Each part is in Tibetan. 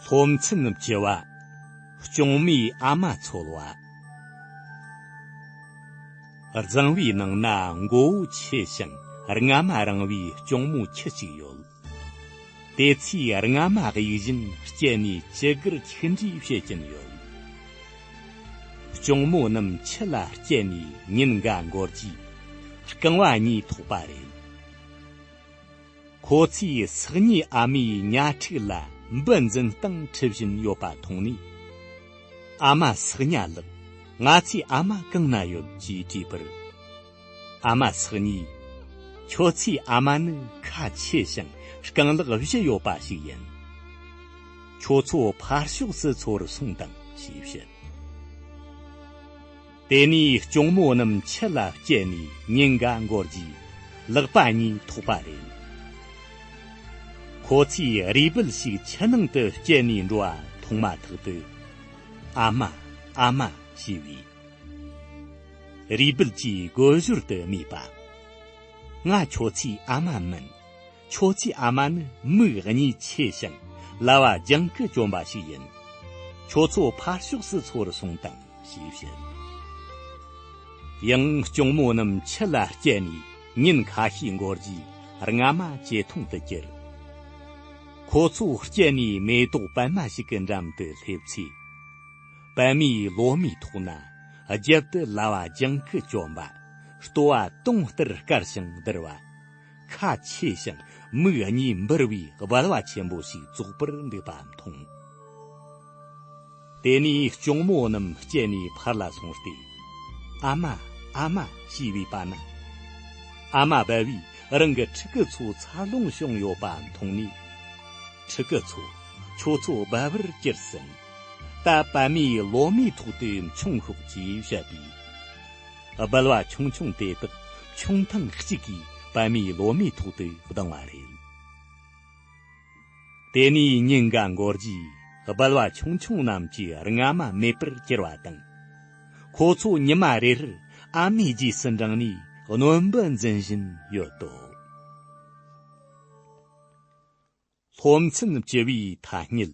ལྷོ་མཚམས་ནུབ་ཀྱི་བ། གཅོང་མའི་ཨ་མ་འཚོལ་བ། གཙང་བའི་ནང་ན་མགོ་བོ་ཆེ་ཞིང་རྔ་མ་རིང་བའི་གཅོང་མོ་ཁྱི་གཅིག་ཡོད། དེ་ཚོས་རྔ་མ་གཡུག་བཞིན་སྐྱེལ་ནས་སྤྱི་སྒེར་ཆིག་འབྲི་བྱེད་ཀྱིན་ཡོད། གཅུང་མོ་རྣམས་ཁྱི་ལ་སྐྱེལ་ནས་ཉིན་འགའ་འགོར་རྗེས་རྐང་བ་གཉིས་ཐོགས་པ་རེད། ཁོ་ཚོས་སག་ཉའི་ཨ་མའི་གཉའ་ཁྲིག་ལ་འབུ་འཛིན་སྟངས་འཁྲིད་བཞིན་ཡོད་པ་མཐོང་ནས། ཨ་མ་སག་ཉ་ལགས་ང་ཚོའི་ཨ་མ་གང་ན་ཡོད་ཅེས་དྲིས་པར། ཨ་མ་ཚེགས་གཉིས། ཁྱོད་ཚོའི་ཨ་མ་ནི་ཁ་ཆེ་ཞིང་རྐང་ལག་བཞི་ཡོད་པ་ཞིག་ཡིན། ཁྱོད་ཚོ་ཕར་ཕྱོགས་སུ་ཚུར་སོང་དང་ཞེས་བཤད། དེ་ནས་གཅུང་མོ་རྣམས་ཕྱི་ལ་བསྐྱལ་ནས་ཉིན་འགའ་འགོར་རྗེས་ལག་པ་གཉིས་ཐོགས་པ་རེད། ཁོ་ཚོས་རུས་སྦལ་ཞིག་ཕྱི་ནང་དུ་བསྐྱལ་ནས་འགྲོ་བ་མཐོང་མ་ཐག་ཏུ། ཨ་མ། ཨ་མ། ཞེས་བས། རུས་སྦལ་གྱིས་རྒོད་བཞུར་དུ་སྨྲས་པ། ང་ཁྱོད་ཚོའི་ཨ་མ་མིན། ཁྱོད་ཚོའི་ཨ་མ་ནི་མིག་གཉིས་ཆེ་ཞིང་ལ་བ་རྒྱང་གི་གྱོན་པ་ཞིག་ཡིན། ཁྱོད་ཚོ་ཕར་ཕྱོགས་སུ་འཚོ་རུ་སོང་དང་ཞེས་བཤད། ཡང་གཅུང་མོ་རྣམས་ཁྱི་ལ་སྐྱེལ་ནས་ཉིན་ཁ་ཤས་འགོར་རྗེས་རྔ་མ་བྱེ་ཐང་དུ་གྱུར། ཁོ་ཚོ་སྐྱེལ་ནས་མེ་ཏོག་པད་མ་ཞིག་གི་འགྲམ་དུ་སླེབས་ཚེ། པདྨའི་ལོ་མའི་ཐོག་ན། རྒྱབ་ཏུ་ལྭ་བ་ལྗང་གུ་བཅོམ་པ། ལྟོ་བ་དུང་ལྟར་དཀར་ཞིང་དིར་བ། ཁ་ཆེ་ཞིང་མིག་གཉིས་འབུར་བའི་རྦལ་བ་ཆེན་པོ་ཞིག་ཙོག་པུར་འདུག་པ་མཐོང། དེ་ནས་གཅུང་མོ་རྣམས་བསྐྱལ་ནས་ཕར་ལ་སོང་སྟེ། ཨ་མ། ཨ་མ། ཞེས་བས་པ་ན། ཨ་མ་བལ་བས་རང་གི་ཕྲུ་གུ་ཚོ་འཚར་ལོངས་བྱུང་ཡོད་པ་མཐོང་ནས། ཕྲུ་གུ་ཚོ། ཁྱོད་ཚོ་བལ་བར་སྐྱུར་ཟིན། ད་པདྨའི་ལོ་མའི་ཐོག་ཏུ་མཆོང་ཤོག་ཅེས་བཤད་པས། སྦལ་བ་ཆུང་ཆུང་དེ་དག་མཆོང་ཐེངས་གཅིག་གིས་པདྨའི་ལོ་མའི་ཐོག་ཏུ་ལྡང་བ་རེད། དེ་ནས་ཉིན་འགའ་འགོར་རྗེས་སྦལ་བ་ཆུང་ཆུང་རྣམས་ཀྱི་རྔ་མ་མེད་པར་གྱུར་བ་དང། ཁོ་ཚོ་ཉི་མ་རེར་ཨ་མའི་རྗེས་སུ་འབྲངས་ནས་གནོན་འབུ་འཛིན་བཞིན་ཡོད་དོ། སློབ་ཚན་བཅུ་བའི་ཐ་སྙད།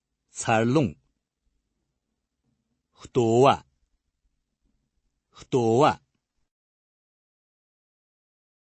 འཚར་ལོངས། ལྟོ་བ། ལྟོ་བ།